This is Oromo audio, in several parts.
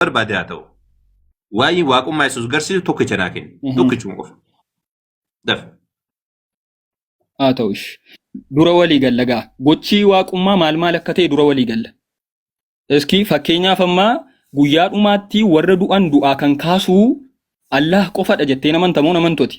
barbaade haa ta'u. Waa'ee waaqummaa Yesuus garsiisu tokkicha naa kenni. Mhm. Tokkichuma qofa. Daf. haa ta'u ish dura walii galla gaa gochii waaqummaa maal maal akka ta'e dura walii galla iski fakkeenyaaf ammaa guyyaa dhumaatti warra du'an du'aa kan kaasuu allaah qofadha jettee namantamoo namantoti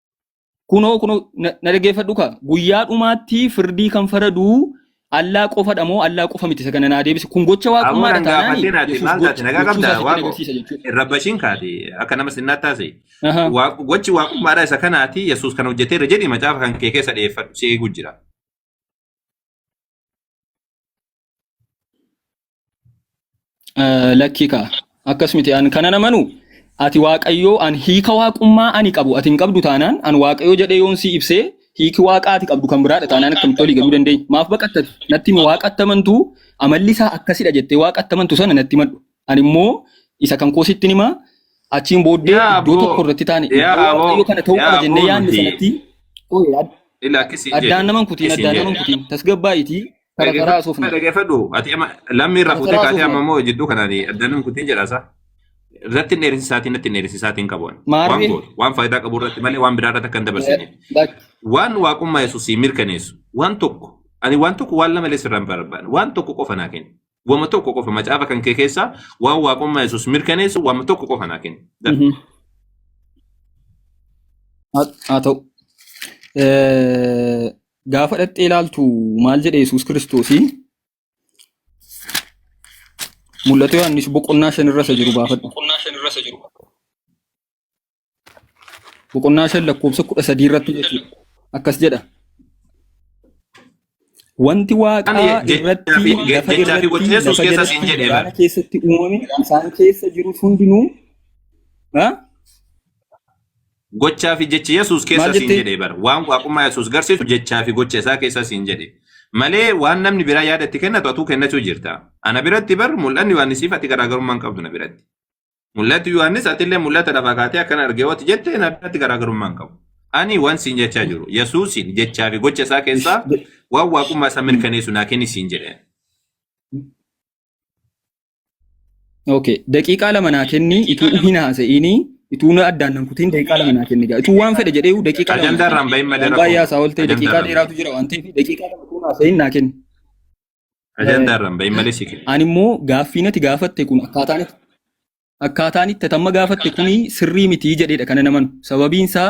kunoo kunoo na na dhaggeeffadhu kaa guyyaa dhumaatti firdii kan faraduu allaa qofadha moo allaa qofa miti isa kana naa deebisi kun gocha Ammoo waaqummaadha nan taanaan gaafateen ati yesuus maal taate gocha nagaa gochuu qabda isaa sitti waaqo agarsiisa jechuudha. irra bashiin kaate akka nama sinnaa taase Ahaa. Waaq- gochi waaqummaadha isa kanaati yesuus kan hojjeteera jedhi macaafa kan kee keessa dhiyeeffadhu si eeguu jira. Eh, Lakkii kaa akkas miti an kana namanu ati waaqayyoo an hiika waaqummaa ani qabu ati hin qabdu taanaan an waaqayyoo jedhee yoon si ibsee hiiki waaqaa ati qabdu kan biraadha taanaan akkamitti olii galuu dandeenya maaf baqattati natti himi waaqa attamantu amalli isaa akkasidha jettee waaqa attamantu sana natti himadhu ani immoo isa kan koo sitti himaa achiin booddee Yaa iddoo tokko aboo, irratti taane yaa iddoo aboo, waaqayyoo kana ta'uu yaa qaba jennee aboo yaadne nuti sanatti Ooyee, ad- ila akkasii addaan jedhu, naman kutiin akkasii addaan naman jedhu. kutiin tasgabbaa'itii Tara garaa Dhaggeeffadhu asuufne. dhaggeeffadhu ati amma lammii irraa Tara fuutee garaa kaatee amma asuufne. immoo jidduu kanaan addanan kutiin jedhaasaa. Irratti hin dheerinsisaatiin natti hin dheerinsisaatiin qabuun. Waan Maarree gootu waan faayidaa qabu irratti malee waan biraa irratti akka hin dabarsineef. lak Waan waaqummaa Yesuusii mirkaneessu waan tokko ani waan tokko waan lama illee sirraa hin barbaanne waan tokko qofa naa kenni. Wama tokko qofa macaafa kan kee keessaa waan waaqummaa Yesuus mirkaneessu wama tokko qofa naa kenni. That's mhm. all. haa haa ta'u. Eh, Gaafa dhaqxee ilaaltu maal jedhe Yesuus Kiristoos? Mul'ata Yohaannis boqonnaa shan irra isa jiru baafadhu. Boqonnaa shan lakkoofsa kudha sadii irratti jechuudha. Akkas jedha. Wanti waaqaa irratti lafa irratti lafa jalatti galaana keessatti uumame isaan keessa jirus hundinuu Gochaa fi jechi Yesuus keessa Maal siin jetti? jedhe bara. Waan waaqummaa Yesuus garsiisu jechaa fi gocha isaa keessa siin jedhe. Malee waan namni biraa yaada itti kennatu atuu kennachuu jirta. Ana biratti bar mul'anni Yohaannisiif ati garaagarummaa hin qabdu na biratti. Mul'atu Yohaannis atillee mul'ata lafaa kaatee akkan argee wati jette na biratti garaagarummaa hin qabu. Ani waan siin jechaa jiru Yesuusiin jechaa fi gocha isaa keessaa waan waaqummaa isaa mirkaneessu naa kenni siin jedhe. Okay, daqiiqaa lama naa kenni ituu hin haasa'ini ituu na addaan nan kutiin daqiiqaa lama naa kenni gaa ituu waan fedhe jedhee daqiiqaa lama Ajandaa naa irraan bahin kenni. malee Waan baay'ee haasaa rakkoon ooltee daqiiqaa ajandaa dheeraatu jira waan ta'eef daqiiqaa lama ituu hin haasa'in naa kenni. ajandaa irraan bahin malee si kenna. Ani immoo gaaffii nati gaafatte kun akkaataan itti akkaataan itti atamma gaafatte kun sirrii mitii jedheedha kana naman sababiin isaa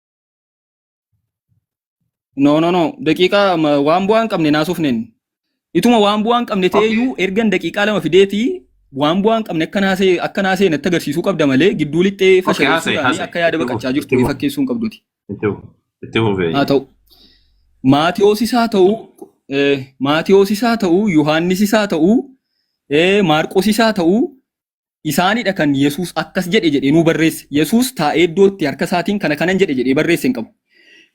No, no, no. Daqiiqaa ma- waan bu'aa hin qabne naasofneen. Ituma waan bu'aa hin qabne ta'ee Okay. iyyuu ergan daqiiqaa lama fideeti waan bu'aa hin qabne akka naasee akka naasee natti agarsiisuu qabda malee gidduu lixxee Okay, haasa'e, fashaleessuudhaan haasa'e. akka yaada Itti baqachaa fufi, jirtu itti fufi. fakkeessuu hin qabduti. Itti fufi, itti fufi. Haa ta'u. Maatiyoosis haa ta'u, eh, Maatiyoosis haa ta'u, Yohaannisis haa ta'u, eh, Maarqosis haa ta'u, isaanidha kan Yesuus akkas jedhe jedhee nuu barreesse. Yesuus taa'ee iddootti harka isaatiin kana kanan jedhe jedhee barreesse hin qabu.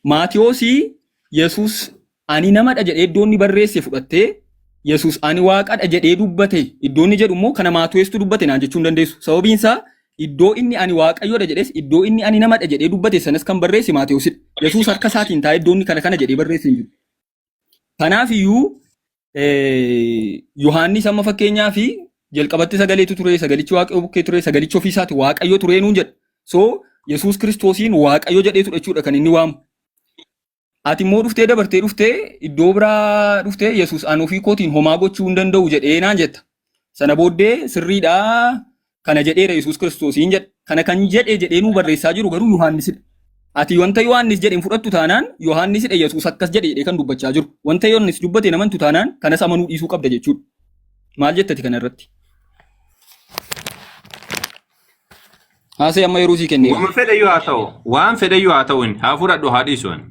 Maatiyoosii Yesuus ani namadha jedhee iddoo inni barreesse fudhattee Yesuus ani waaqadha jedhee dubbate iddoo inni jedhu immoo kana maatiyoostuu dubbate naan jechuu hin dandeessu. Sababiin isaa iddoo inni ani waaqayyoodha jedhes iddoo inni ani namadha jedhee dubbate sanas kan barreesse maatiyoosidha. Yesuus harka isaatiin taa'ee iddoo inni kana kana jedhee barreesse hin jiru. Kanaaf iyyuu Yohaannis amma fakkeenyaa fi jalqabatti sagaleetu ture, sagalichi waaqayyo bukkee ture, sagalichi ofii isaati waaqayyo ture nuun jedha. So Yesuus Kiristoosiin waaqayyo jedheetu jechuudha kan inni waamu. Ati immoo dhuftee dabartee dhuftee iddoo biraa dhuftee Yesuus an ofii kootiin homaa gochuu hin danda'u jedhee naan jetta. Sana booddee sirriidhaa Kana jedheera Yesuus Kiristoos hin jedhe. Kana kan jedhe jedhee nuu barreessaa jiru garuu Yohaannisidha. Ati wanta Yohaannis jedhe hin fudhattu taanaan Yohaannisidha Yesuus akkas jedhe jedhee kan dubbachaa jiru. Wanta Yohaannis dubbate hin amantu taanaan kanas amanuu dhiisuu qabda jechuudha. Maal jettati kana irratti? Haasee amma yeroo sii kenne. Wama fedhayyuu haa ta'u. Waan fedhayyuu haa ta'u inni. Haa fudhadhu haa dhiisu inni.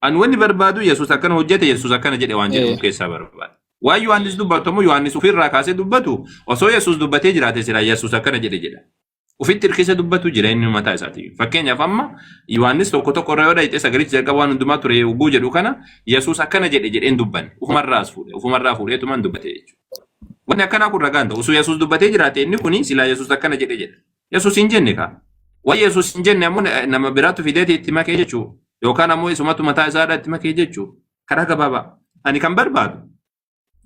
An wanni barbaadu Yesuus akkana hojjete Yesuus akkana jedhe waan jedhamu Eh. keessaa barbaada. Waan Yohaannis dubbatu immoo Yohaannis ofirraa kaasee dubbatu osoo Yesuus dubbatee jiraate silaa Yesuus akkana jedhe jedha. Ofitti hirkise dubbatu jireenyi mataa isaatiin. Fakkeenyaaf amma Yohaannis tokko tokko irra yoo dhayite sagalichi jalqaba waan hundumaa ture yogguu jedhu kana Yesuus akkana jedhe jedheen dubbanne. Ofumarraas fuudhe. Ofumarraa fuudheetumaan dubbate jechuudha. Wanni akkanaa kun ragaan ta'u. Osoo Yesuus dubbatee jiraate inni kuni silaa Yesuus akkana jedhe jedha. Yesuus hin jenne kaa. Waan Yesuus hin jenne ammoo nama biraatu fideeti itti makee jechuu yookaan ammoo isumatu mataa isaadhaa itti makee jechuu karaa gabaabaa. Ani kan barbaadu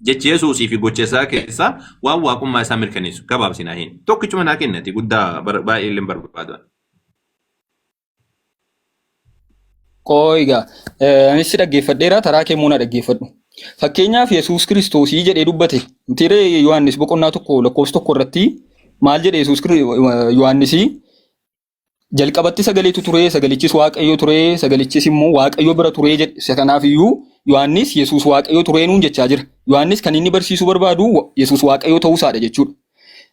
jechi Yesuusii fi gocha isaa keessaa waan waaqummaa isaa mirkaneessu gabaabsinaa hin tokkichuma naa kennati guddaa baay'ee illee barbaadu. Qooyi egaa eh, anis si dhaggeeffadheera taraa kee immoo na dhaggeeffadhu. Fakkeenyaaf Yesuus Kiristoosii jedhee dubbate. Mitiiree Yohaannis boqonnaa tokko lakkoofsa tokko irratti maal jedhe Yesuus Kiri- Yohaannisii jalqabatti sagaleetu ture sagalichis waaqayyo ture sagalichis immoo waaqayyo bira ture jedhe. Isa kanaaf iyyuu Yohaannis Yesuus waaqayyo turee nuun jechaa jira. Yohaannis kan inni barsiisuu barbaadu wa- Yesuus waaqayyo ta'uusaadha jechuudha.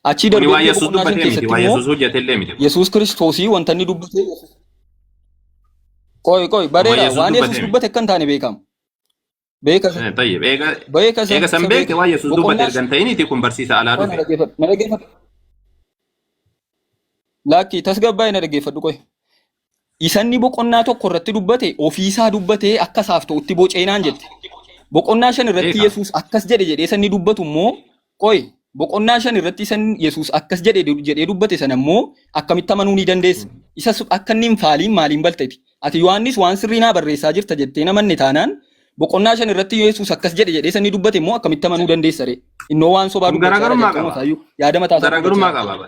Achii Kuni darbee waan immoo Yesuus boqonnaa shan dubbatee miti. keessatti Waan immoo Yesuus hojjete illee miti. Yesuus Kiristoosii wanta inni dubbate qoy qoy Waan bareera Yesuus waan Yesuus dubbatee miti. dubbate akka hin taane beekama. Beeka isa Eh, Tayyib. Eega beeka isa eega san isa beekte beeka waan Yesuus dubbate boqonnaa erga hin ta'iniiti kun barsiisa alaa qoy na dhufe. dhaggeeffadhu na dhaggeeffadhu laakkii tasgabbaa'ee na dhaggeeffadhu qoy isanni boqonnaa tokko irratti dubbate ofiisaa dubbatee akka isaaf ta'utti boceenaan jette. Boqonnaa shan irratti Beekaa. Yesuus akkas jedhe jedhee sanni dubbatu immoo qoy boqonnaa shan irratti isan Yesuus akkas jedhe jedhee dubbate sana immoo akkamitti amanuu ni dandeessa. Isas akka inni hin faaliin maaliin balteti. Ati Yohaannis waan sirrii naa barreessaa jirta jettee namanne taanaan boqonnaa shan irratti Yesuus akkas jedhe jedhee sanni dubbate immoo akkamitti amanuu dandeessa ree. Innoo waan sobaa Kun dubbachaa jira garaagarummaa jalqabuma qaba. isaayyuu yaada mataa isaa Garaagarummaa dubbachaa. qaba.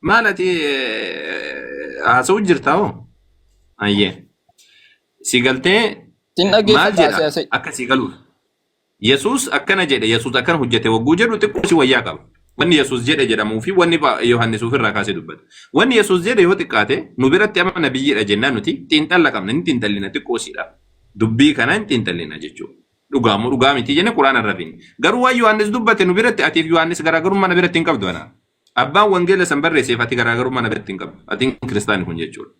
Maal ati haasa'u jirta hoo? Ayyee. Si galtee Sin maal dhaggeeffadha jedha asee asee. akka si galuuf. Yesuus akkana jedhe Yesuus akkana hojjete wagguu jedhu xiqqoo si wayyaa qaba. Wanni Yesuus jedhe jedhamuu fi wanni Pha- Yohaannis ofirraa kaasee dubbate. Wanni Yesuus jedhe yoo xiqqaate nu biratti amma nabiyyiidha jennaan nuti xiinxalla qabna ni xiinxallina xiqqoo siidha. Dubbii kana hin xiinxallina jechuudha. Dhugaa moo dhugaa miti jenne quraana irra fiine. Garuu waan Yohaannis dubbate nu biratti atiif Yohaannis garaagarummaa na biratti hin qabdu anaa. Abbaan wangeela san barreesseef ati garaagarummaa na biratti hin qabdu. Ati hin kiristaani kun jechuudha.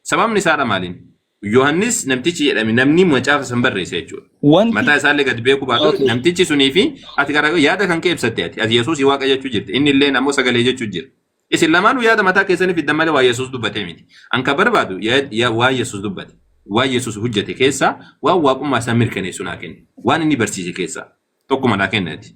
Sababni isaadha maaliin? Yohannis namtichi jedhame namni macaafa san barreesse jechuudha. Wanti Mataa isaallee gad beekuu baatu Okay. namtichi sunii fi ati garaagarummaa yaada kan kee ibsatte ati. Ati Yesuusii waaqa jechuu jirti. Inni illee ammoo sagalee jechuu jira. Isin lamaanuu yaada mataa keessanii fiddan malee waa Yesuus dubbatee miti. An kan barbaadu yaa- yaa- waa Yesuus dubbate. Waa Yesuus hojjete keessaa waan waaqummaa isaa mirkaneessu naa kenni. Waan inni barsiise keessaa tokkuma naa kenni ati.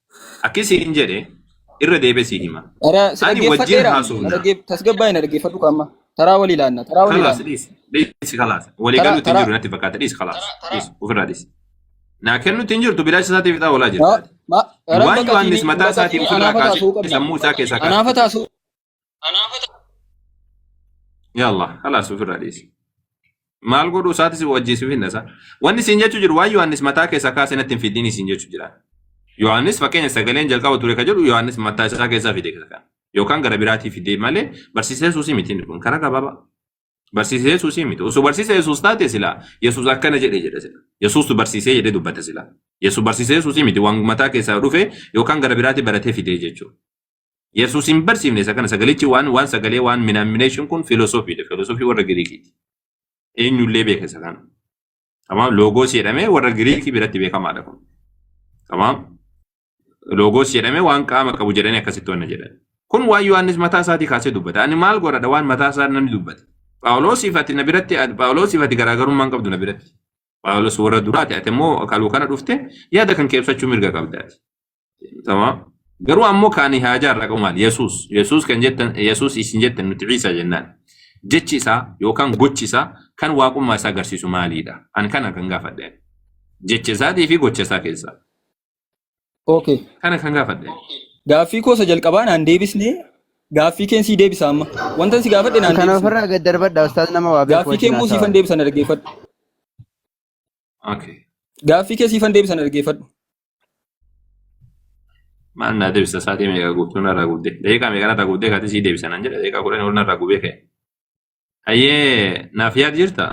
Akki siin jedhe irra deebee sii hima. Ana si Ani wajjin dhaggeeffadheera. Na haasofna. dhaggeef- Tasgabbaa'e na dhaggeeffadhu qaama. Taraa walii laanna. Taraa walii Kalaas laanna. dhiisi. Dhiisi kalaas. Walii Taraa galuutti hin taraa. jiru natti fakkaata. Dhiisi kalaas. Dhiisi. Ofirraa dhiisi. Naa kennuutti hin jirtu bilaacha isaatiif ixaa olaa jirta. Ma- ma- Waan Yohaannis mataa isaatiin ofirraa kaasee sammuu isaa keessaa kaase. Anaafa taasuu Anaafata. Yaa Allah, halaas ofirraa dhiisi. Maal godhu isaati si wajjiisuuf hin dhasa. Wanni siin jechuu jiru waan Yohaannis mataa keessaa kaasee natti hin fidiin siin jechuu jira. Yohaannis fakkeenya sagaleen jalqaba ture kan jedhu Yohaannis mataa isaa keessaa fide kan. Yookaan gara biraatii fide malee barsiisa Yesuusii miti inni kun karaa gabaabaa. Barsiisa Yesuusii miti. Osoo barsiisa Yesuus taate silaa Yesuus akkana jedhe jedha sila. Yesuustu barsiisee jedhee dubbata sila. Yesuus barsiisa Yesuusii miti waan mataa keessaa dhufe yookaan gara biraatii baratee fide jechuudha. Yesuus hin barsiifne isa kana sagalichi waan waan sagalee waan minaamination kun filosofiidha. Filosofii warra Giriikiiti. Eenyullee beeka isa kana. Tamaam loogoos jedhamee warra Giriikii biratti beekamaadha kun. Tamaam loogoos jedhamee waan qaama qabu jedhanii akkasitti wanna jedhan. Kun waan Yohaannis mataa isaatii kaasee dubbata. Ani maal godhadha waan mataa isaa namni dubbate. Phaawuloosiif ati na biratti Phaawuloosiif ati garaagarummaa hin qabdu na biratti. Phaawulos warra duraati ati immoo kaluu kana dhufte yaada kan kee ibsachuu mirga qabdaati. Tamam. Garuu ammoo kaanii haajaa irraa qabu maali? Yesuus. Yesuus kan jettan, Yesuus isin jettan nuti Ciisaa jennaan. Jechi isaa yookaan gochi isaa kan waaqummaa isaa agarsiisu maaliidha? An kana kan gaafadhe. Jecha isaatii fi gocha isaa keessaa. Okay. Kana kan gaafadhe. Gaaffii koo isa jalqabaa naan deebisnee gaaffii keen sii deebisa amma. Wanta si gaafadhe naan Kana deebisne. ofirraa gad darbadha ustaaz nama waa beeku Gaaffii kee wajjin immoo siifan haasa'aa. deebisa na dhaggeeffadhu. Okay. Gaaffii kee siifan deebisan dhaggeeffadhu. Maal naa deebisa sa'aatii meeqa guutuu narraa guutte? Daqiiqaa meeqa narraa guutte kaatii sii deebisa naan jedhe daqiiqaa kudhan ol narraa gubee ka'e. Hayyee naaf yaad jirta?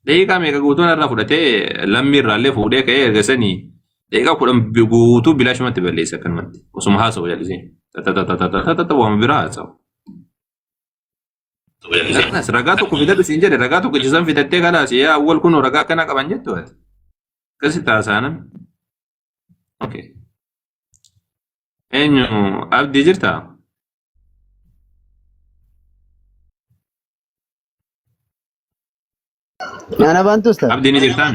Daqiiqaa meeqa guutuu narraa fudhatee lammii irraallee fuudhee ka'ee erga sanii daqiiqaa kudhan bi- guutuu bilaashumatti balleessa akkanumatti osuma haasa'u jallisee. Tatatatatatata waama biraa haasa'u. Kanas ragaa tokko fidadhu siin jedhe ragaa tokko jisan fidattee kalaas yaa awwal kun ragaa akkana qaban jettu ati. Akkasi taasaanan. Okay. Eenyu abdii jirtaa? Nana bantu ustaz. Abdii ni jirtaan?